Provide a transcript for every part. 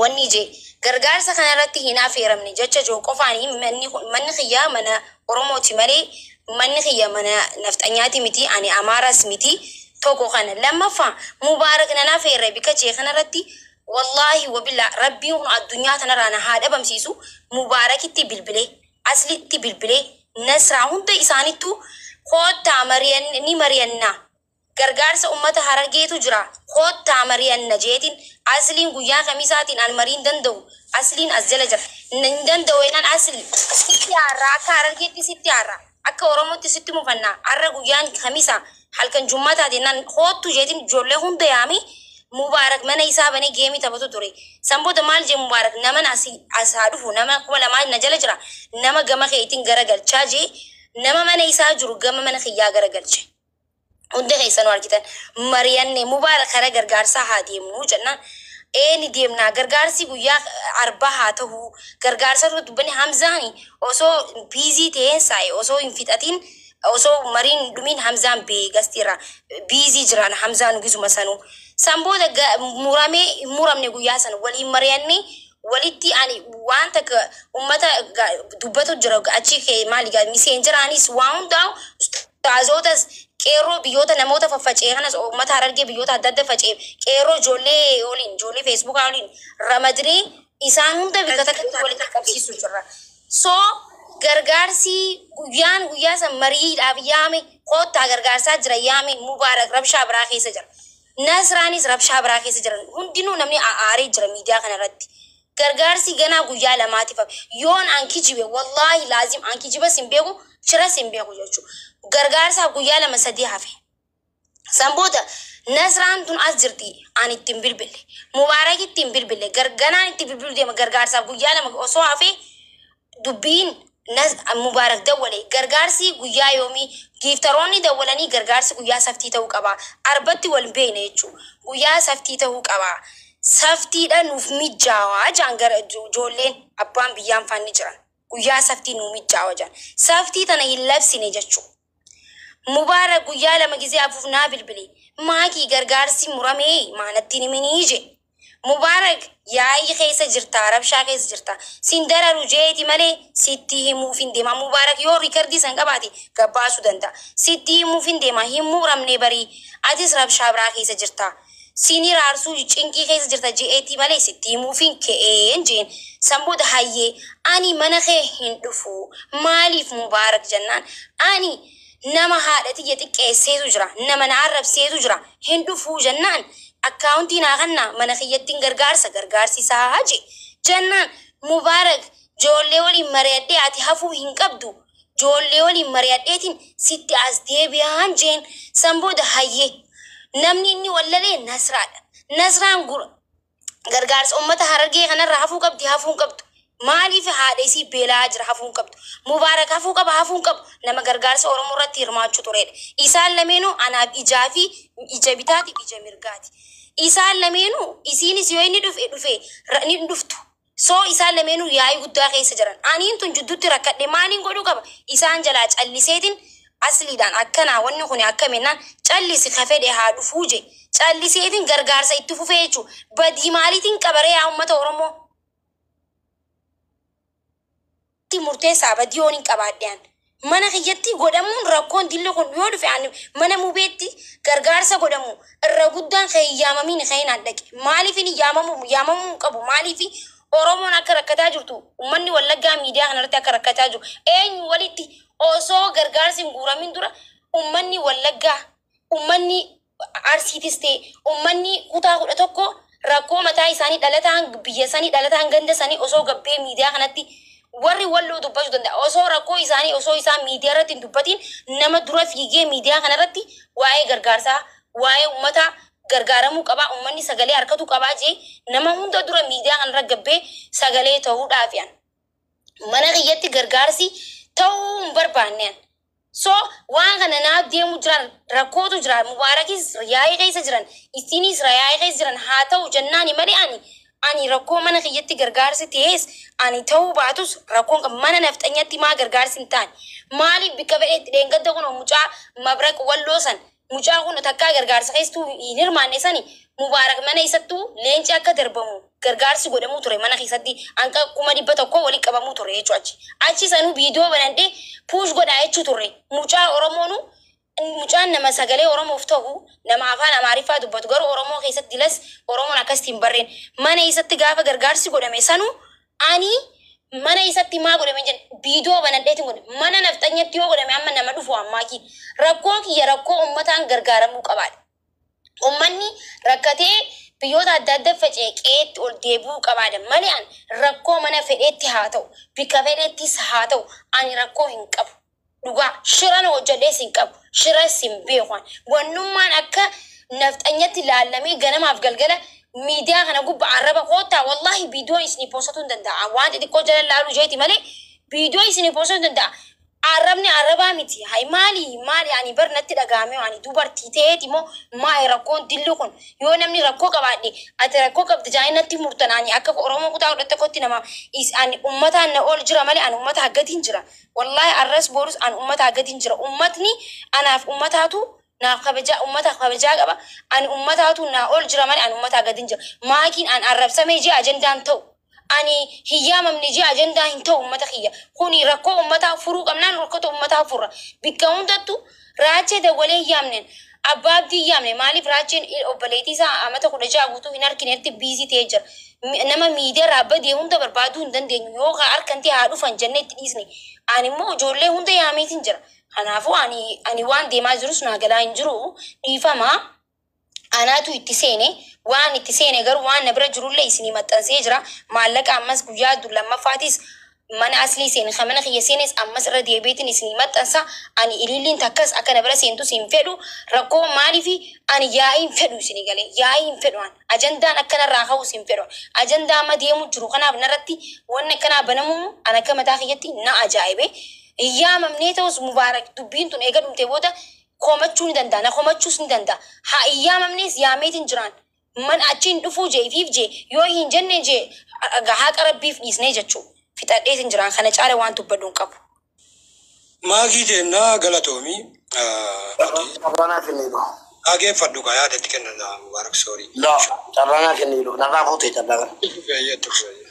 Wanni J. Gargaarsa kana irratti hin afeeramne jecha J qofaani manni kun manni kiyya mana Oromooti malee manni kiyya mana nafxanyaati miti ani Amaaras miti tokko kana lammaffa Mubaarak nan afeerre bika J kana irratti wallaahi wabilla rabbiin kun addunyaa tanarraa na haa dhabamsiisu Mubaarakitti bilbilee Aslitti bilbilee Nasraa hunda isaanittuu koottaa mari'an ni mari'annaa Gargaarsa ummata Harargeetu jira koottaa mari'anna jeetin Asliin guyyaa kamisaatiin an marii hin danda'u Asliin as jala jira hin danda'u ennaan Asli sitti aarra akka Harargeetti sitti aarra akka Oromootti sitti mufanna arra guyyaan kamisa halkan jummataati ennaan koottu jeetin ijjoollee hunda yaame Mubaarak mana isaa banee geemii taphatu ture san booda maal jee Mubaarak naman asi as haa dhufu nama 2000 na jala jira nama gama keetin gara galchaa jee nama mana isaa jiru gama mana kiyyaa gara galche. Hundi keessanuu argitan. Mari'anne Mubaarak kara gargaarsaa haa deemnu jennaan ee ni deemnaa gargaarsii guyyaa arbaa haa tahuu gargaarsaa irra dubbanne Hamzaani osoo biizii taheen saa'e osoo hin fixatiin osoo mariin hin dhumiin Hamzaan bee gastii irraa biizii jiraan Hamzaanu gizuma sanuu. San booda muramee hin muramne guyyaa san waliin mari'annee walitti ani waan takka ummata ga- dubbatu jira achi kee maali gaa miseenjeraanis waa hundaa'u ustaazootas qeerroo biyyoota namoota faffacee kanas ummata harargee biyyoota adda adda facee qeerroo ijoollee waliin ijoollee feesbuukaa waliin ramadnee isaan hunda bikka takkatti walitti qabsiisu jirra. So gargaarsi guyyaan guyyaa san mariidhaaf yaame koottaa gargaarsaa jira yaame mubaarak rabshaa biraa keessa jira. Nasraanis rabshaa biraa keessa jiran. Hundinuu namni a'aaree jira miidiyaa kana irratti. Gargaarsii ganaa guyyaa lamaatif hafe. Yoon an kijibe wallaahi laazim an kijibas hin beeku shiras hin beeku jechuu. Gargaarsaaf guyyaa lama sadii hafe. San booda Nasraan tun as jirti an itti hin bilbille. Mubaarakitti hin bilbille. Gar, ganaan itti bilbilu deema gargaarsaaf guyyaa lama osoo hafee dubbiin Naz Mubaarak dawwale. Gargaarsi guyyaa yoomii? Giiftaroonni dawwalanii gargaarsi guyyaa saftii ta'uu qaba. Arbatti wal hin beekne jechuu. Guyyaa saftii ta'uu qaba. Saftiidha nuuf mijjaawa jaan gara ijoolleen abbaan biyyaan faan ni jiran. Guyyaa saftii nuu mijjaawa jaan. Saftii tana hin labsine jechuu. Mubaarak guyyaa lama gizee afuuf naa bilbile. Maakii gargaarsii muramee maa nattiin himinii je. Mubaarak yaa'ii keessa jirtaa rabshaa keessa jirtaa. Sin dararu jeeti malee sittii himuufin deema Mubaarak yoo rikardii san qabaate gabbaasu danda'a. Sittii himuufin deema hin muramnee barii atis rabshaa biraa keessa jirtaa. Siinii raarsuu cinqii keessa jirta je'eetii malee sitti himuufiin ka'een je'een. San booda hayyee ani mana kee hin dhufu maaliif Mubaarak jennaan ani nama haadha tiyya xiqqeesseetu jira nama na arrabseetu jira hin dhufu jennaan akkaawuntii naa kannaa mana kiyyattin gargaarsa gargaarsisaa je'e. Jennaan Mubaarak joollee waliin mariyadhee ati hafuu hin qabdu Ijoollee waliin mari'adheetiin sitti as deebi'aan jeen. San booda hayyee. Namni inni wallalee Nasraadha. Nasraan gura. Gargaarsa ummata Harargee kanarraa hafuu qabdi hafuu hin qabdu. Maaliif haadha isii beela'aa jira hafuu hin qabdu. Mubaarak hafuu qaba hafuu hin qabu. Nama gargaarsa Oromoo irratti hirmaachuu tureedha. Isaan lameenuu anaaf ijaa fi ija bitaatiif ija mirgaati. Isaan lameenuu isiinis yoo inni dhufe dhufe ni dhuftu. So isaan lameenuu yaa'ii guddaa keessa jiran. Aniin tun jidduutti rakkadhe maaliin godhuu qaba? Isaan jalaa calliseetiin Asliidhaan akkanaa wanni kuni akkami jennaan callisi ka fedhe haa dhufuu je'e. Calliseetiin gargaarsa itti fufee jechuu. Badii maaliitiin qaba ree yaa ummata Oromoo? tti murteessaa vadiyoon hin qabaadhe an mana kiyyatti godhamuun rakkoon dilli kun yoo dhufe an mana mubeetti gargaarsa godhamu irra guddaan kan hin yaamamiin ka'een an dhaqe maaliifin hin yaamamu yaamamuu hin qabu maaliifi oromoon akka rakkataa jirtu ummanni wallaggaa miidiyaa kana irratti akka rakkataa jiru eenyu walitti osoo gargaarsi hin guuramin dura ummanni wallaggaa ummanni Arsiitis ta'e ummanni kutaa 11 rakkoo mataa isaanii dhalataan biyya sanii dhalataan ganda sanii osoo gabbee miidiyaa kanatti warri walloo dubbachuu danda'a. Osoo rakkoo isaanii osoo isaan miidiyaa irratti hin dubbatiin nama dura fiigee miidiyaa kana irratti waa'ee gargaarsaa waa'ee ummataa gargaaramuu qabaa ummanni sagalee harkatuu qabaa jee nama hunda dura miidiyaa kana irra gabbee sagalee ta'uudhaafi an mana kiyyatti gargaarsi ta'uu hin barbaanne an. So waan kana naaf deemu jiran rakkootu jira mubaarakis yaa'ii keessa jiran issiiniis rayaa'ii keessa jiran haa ta'u jannaani male ani ani rakkoo mana kiyyatti gargaarsi ta'ees ani ta'uu baatus rakkoon qab mana nafxanyatti maa gargaarsi hin taane maaliif bikka fedheetti dheengadda kunoo mucaa mabraq walloo san Mucaan kun takkaa gargaarsa keessattuu hin hirmaanne sani Mubaarak mana isattuu leenci akka darbamu gargaarsi godhamuu ture mana keessatti hanqa kuma dhibba tokkoo walitti qabamuu ture jechuu achi. Achi sanuu viidiyoo banadhee puush godhaa jechuu turre mucaa Oromoonu mucaan nama sagalee Oromoof ta'u nama afaan Amaariffaa dubbatu garuu Oromoo keessatti las Oromoon akkasitti hin barreen mana isatti gaafa gargaarsi godhame sanuu Ani mana isatti maa godhame jen video banadhetin godhe mana nafxanyatti yoo godhame amma nama dhufu ammaaki rakkoo kiyya rakkoo ummataan gargaaramuu qabaadha ummanni rakkatee biyyoota adda adda faca'e qe'eetti ol deebi'uu qabaada malee an rakkoo mana fedheetti haa ta'u bikka fedheettis haa ta'u ani rakkoo hin qabu Dhugaa shira na hojjadhees hin qabu. Shiras hin beeku an. Wannummaan akka nafxanyatti laallamee ganamaaf galgala miidiyaa kana gubba arraba koottaa wallaahi viidiyoon isinii poossatuu hin danda'a. An waan xixiqqoo jala laaluu isheeti malee viidiyoo isinii poossatuu hin danda'a. Arrabni arrabaa miti. Hay maali maali ani bar natti dhaga'amee ani dubartii ta'eeti moo maali rakkoon dilli kun. Yoo namni rakkoo qabaadhe ati rakkoo qabda jedhanii natti murtan ani akka Oromoo kutaa kudha tokkotti nama is ani ummataan na ol jira malee ani ummata haggatiin jira. Wallahi arras borus an ummataa gadin jira ummatni anaaf ummataatu naaf kabajaa ummataaf kabajaa qaba ani ummataatu naa ol jira male an ummataa gadin jira maakiin an arrabsame jee ajandaa hin ta'u ani hin yaamamne jee ajandaa hin ta'u ummata kiyya kuni rakkoo ummataa furuu qabnaan rokkoto ummataa furra bikka hundattu Raachee dawwalee hin yaamne. Abbaa Abdii hin yaamne. Maaliif Raacheen obboleettii isaa amata kudha ja'a guutuu hin arkinetti biizii ta'ee jira. Nama miidiyaarraa badee hunda barbaaduu hin dandeenyu. Yoo kaa arkantee haa dhufan jennee itti dhiisne. Ani immoo ijoollee hunda yaameetiin jira. Kanaafuu ani ani waan deemaa jirus naa galaa hin jiru. Dhiifama. Anaatu itti seene, waan itti seene garuu waan na bira jirullee isinii maxxansee jira. Maallaqa ammas guyyaa du- lammaffaatiis mana aslii seene, kan mana kiyya seenes ammas irra deebi'eetiin isinii maxxansa. Ani ililliin takkas akka na bira seentus hin fedhu. Rakkoon maaliifi? Ani yaa'ii hin fedhu isinii galee. Yaa'ii hin fedhu an. Ajandaan akka narraa ka'us hin fedhu. Ajandaa amma deemu jiru kanaaf narratti wanni akkanaa banamuu an akka mataa kiyyatti na ajaa'ibe. Hin yaamamnee ta'us Mubaarak dubbiin tun eega dhumtee booda komachuu ni danda'a na komachuus ni danda'a haa hin yaamamnees yaameet hin jiraan man achi hin dhufuu jee ifiif jee yoo hin jenne jee haaqa rabbiif dhiisnee jechuu fixadheet hin jiraan kana caale waan dubbadhu hin qabu. Maakii keenna galatoomi Maakii. Carraa naa kenniidhu. Dhaageeffadhu kaa yaada itti kenna naa Mubaarak sorry. Laa carraa naa kenniidhu narraa fuutee carraa kana. Itti fufi hayyee itti fufi hayyee.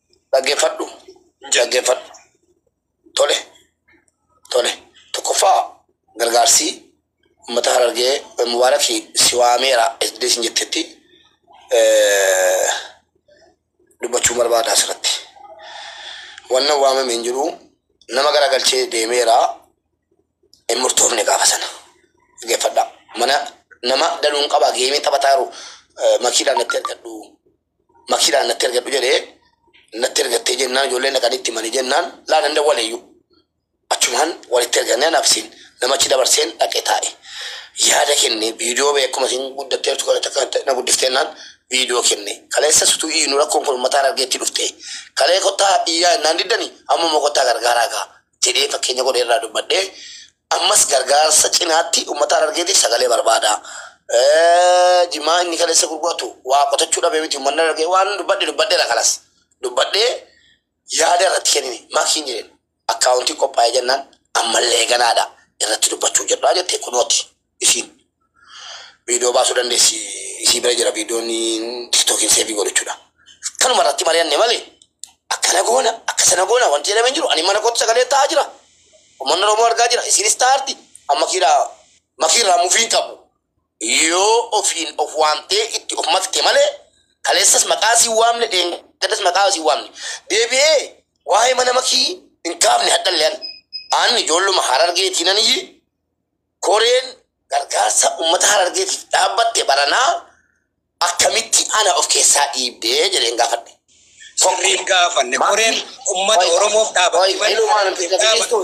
Dhaggeeffadhu. Dhaggeeffadhu. Tole. Tole. Tokkoffaa gargaarsi uummata Harargee Mubaaraki si waameera jettee isin jettetti dubbachuu barbaada asirratti. Wanna waamame hin jiru nama garagalchee deemeera hin murtoofne gaafa sana. Dhaggeeffadha. Mana nama daluun qaba geemii taphataa jiru makiidhaan natti argadhu. makiidhaan natti ergadhu jedhee natti ergattee jennaan ijoollee naqanii itti manii jennaan laa nan dawwaleeyyuu. Achumaan walitti ergannee anaafsiin namachi dabarseen dhaqee taa'e. Yaada kenne viidiyoo bee akkuma isin guddattee jirtu kana takka na guddifteenaan viidiyoo kenne. Kaleessa sutuu iyyuu rakkoon kun mataa argeetti dhufte. Kalee kottaa iyyaa innaan diddani amma immoo kottaa gargaaraa gaa jedhee fakkeenya godhee irraa dubbadhee Ammas gargaarsa cinaatti uummata Harargeetiif sagalee barbaada. Jimaa inni kaleessa gurguratu waa qotachuu dhabee miti uummanni Harargee waan dubbadhe dubbadheera kanas. Dubbadhee yaada irratti kennine makiin jedheen akkaawuntii qophaa'ee jennaan ammallee ganaadha irratti dubbachuu jedhaa jettee kunooti. isiin viidiyoo baasuu dandeessi isii bira jira viidiyoon tiktookiin seevii godhu jechuudha. Kanuma irratti mari'anne malee akkana goona akka sana goona wanti jedhamee jiru ani mana kootti sagalee ta'aa jira. Uummanni Oromoo argaa jira isiinis ta'aarti amma kiidhaa makiirraa mufiin qabu. Yoo ofiin of waamtee itti of makte malee kaleessas maqaa siin waamne dheengaddas maqaa siin waamne deebi'ee waa'ee mana makii hin kaafne hadhallee ani. Ani ijoolluma harargeetii nan iyyee Koreen gargaarsa uummata Harargeetiif dhaabbatte baranaa akkamitti ana of keessaa dhiibde jedheen gaafadhe. Sirrii hin gaafanne. Koreen uummata Oromoof dhaabatti malee Harargeef dhaabatu.